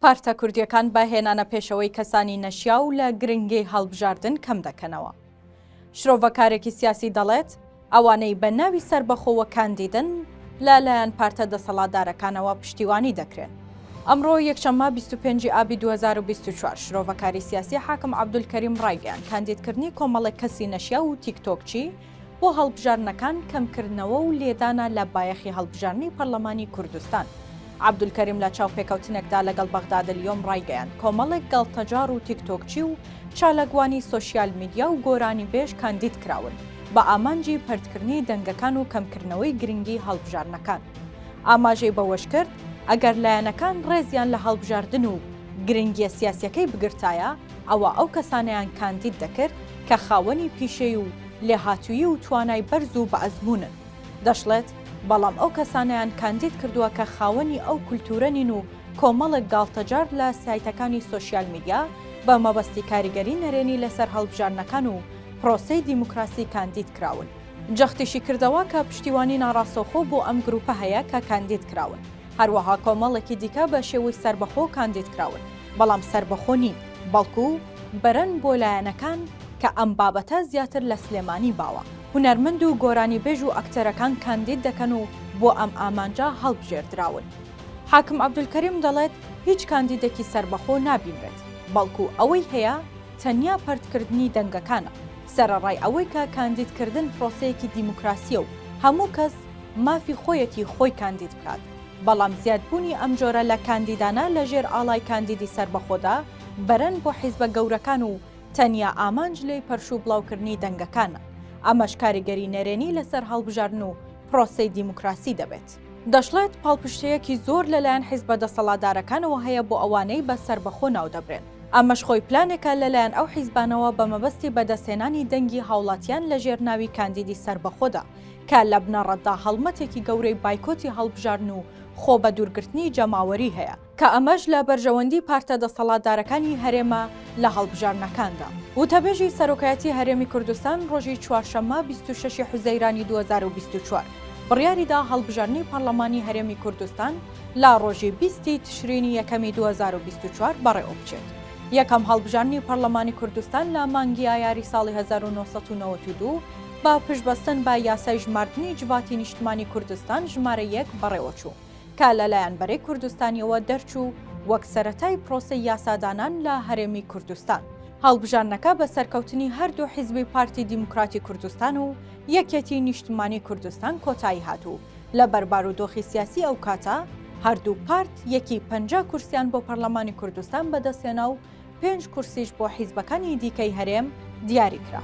پارتە کوردییەکان بە هێنانە پێشەوەی کەسانی نەشیاو لە گرنگی هەڵبژاردن کەم دەکەنەوە. شرۆڤەکارێکی سیاسی دەڵێت، ئەوانەی بە ناوی سەربەخۆوە کاندیدن، لە لایەن پارتە دەسەڵاتدارەکانەوە پشتیوانی دەکرێن. ئەمڕۆ یەکشەممە بیست و پێنج ی ئابی دوو هەزار و بیست و چوار، شرۆڤەکاری سیاسی حاکم عەبدولکەریم ڕایگەیاند کاندیدکردنی کۆمەڵێک کەسی نەشیاو و تیکتۆکچی، بۆ هەڵبژاردنەکان کەمکردنەوە و لێدانە لە بایەخی هەڵبژاردنی پەرلەمانی کوردستان. عەبدولکەریم لە چاوپێکەوتنێکدا لەگەڵ بەغدادالیۆم ڕایگەیاند، کۆمەڵێک گاڵتەجاڕ و تیکتۆکچی و چالاکوانی سۆشیال میدیا و گۆرانیبێژ کاندید کراون بە ئامانجی پەرتکردنی دەنگەکان و کەمکردنەوەی گرنگی هەڵبژاردنەکان. ئاماژەی بەوەشکرد، ئەگەر لایەنەکان ڕێزیان لە هەڵبژاردن و گرنگییە سیاسییەکەی بگرتایە، ئەوا ئەو کەسانەیان کاندید دەکرد کە خاوەنی پیشەی و لێهاتوویی و توانای بەرز و بەئەزموونن. دەشڵێت، بەڵام ئەو کەسانەیان کاندید کردووە کە خاوەنی ئەو کولتوورە نین و کۆمەڵێک گاڵتەجاڕ لە سایتەکانی سۆشیال میدیا بە مەبەستی کاریگەری نەرێنی لەسەر هەڵبژاردنەکان و پرۆسەی دیموکراسی کاندید کراون. جەختیشی کردەوە کە پشتیوانی ناڕاستەوخۆ بۆ ئەم گرووپە هەیە کە کاندید کراون. هەروەها کۆمەڵێکی دیکە بە شێوەی سەربەخۆ کاندید کراون، بەڵام سەربەخۆ نین، بەڵکو بەرەن بۆ لایەنەکان کە ئەم بابەتە زیاتر لە سلێمانی باوە، هونەرمەند و گۆرانیبێژ و ئەکتەرەکان کاندید دەکەن و بۆ ئەم ئامانجە هەڵبژێردراون. حاکم عەبدولکەریم دەڵێت، هیچ کاندیدێکی سەربەخۆ نابینرێت، بەڵکو ئەوەی هەیە تەنیا پەرتکردنی دەنگەکانە، سەرەڕای ئەوەی کە کاندیدکردن پرۆسەیەکی دیموکراسییە و هەموو کەس مافی خۆیەتی خۆی کاندید بکات، بەڵام زیادبوونی ئەم جۆرە لە کاندیدانە لە ژێر ئاڵای کاندیدی سەربەخۆدا بەرەن بۆ حیزبە گەورەکان و تەنیا ئامانج لێی پەرش و بڵاوکردنی دەنگەکانە، ئەمەش کاریگەری نەرێنی لەسەر هەڵبژاردن و پرۆسەی دیموکراسی دەبێت. دەشڵێت، پاڵپشتییەکی زۆر لەلایەن حیزبە دەسەڵاتدارەکانەوە هەیە بۆ ئەوانەی بە سەربەخۆ ناودەبرێن، ئەمەش خۆی پلانێکە لەلایەن ئەو حیزبانەوە بە مەبەستی بەدەستهێنانی دەنگی هاوڵاتیان لە ژێر ناوی کاندیدی سەربەخۆدا، کە لە بنەڕەتدا هەڵمەتێکی گەورەی بایکۆتی هەڵبژاردن و خۆ بە دوورگرتنی جەماوەری هەیە، کە ئەمەش لە بەرژەوەندی پارتە دەسەڵاتدارەکانی هەرێمە لە هەڵبژاردنەکاندا. وتەبێژی سەرۆکایەتی هەرێمی کوردستان ڕۆژی چوارشەممە بیست و شەش ی حوزەیرانی دوو هەزار و بیست و چوار بڕیاریدا هەڵبژاردنی پەڕڵەمانی هەرێمی کوردستان لە ڕۆژی بیست ی تشرینی یەکەمی دوو هەزار و بیست و چوار بەڕێوەبچێت. یەکەم هەڵبژاردنی پەڕڵەمانی کوردستان لە مانگی ئایاری ساڵی هەزار و نۆ سەد و نەوەد و دوو، بە پشتبەستن بە یاسای ژماردنی جڤاتی نیشتمانی کوردستان ژمارە یەک بەڕێوەچوو، کە لەلایەن بەرەی کوردستانیەوە دەرچوو وەک سەرەتای پرۆسەی یاسادانان لە هەرێمی کوردستان. هەڵبژاردنەکە بە سەرکەوتنی هەردوو حیزبی پارتی دیموکراتی کوردستان و یەکێتی نیشتمانی کوردستان کۆتایی هات و لەبەر بارودۆخی سیاسی ئەوکاتە هەردوو پارت یەکی پەنجا کورسیان بۆ پەرلەمانی کوردستان بەدەستهێنا و پێنج کورسیش بۆ حیزبەکانی دیکەی هەرێم دیاری کرا.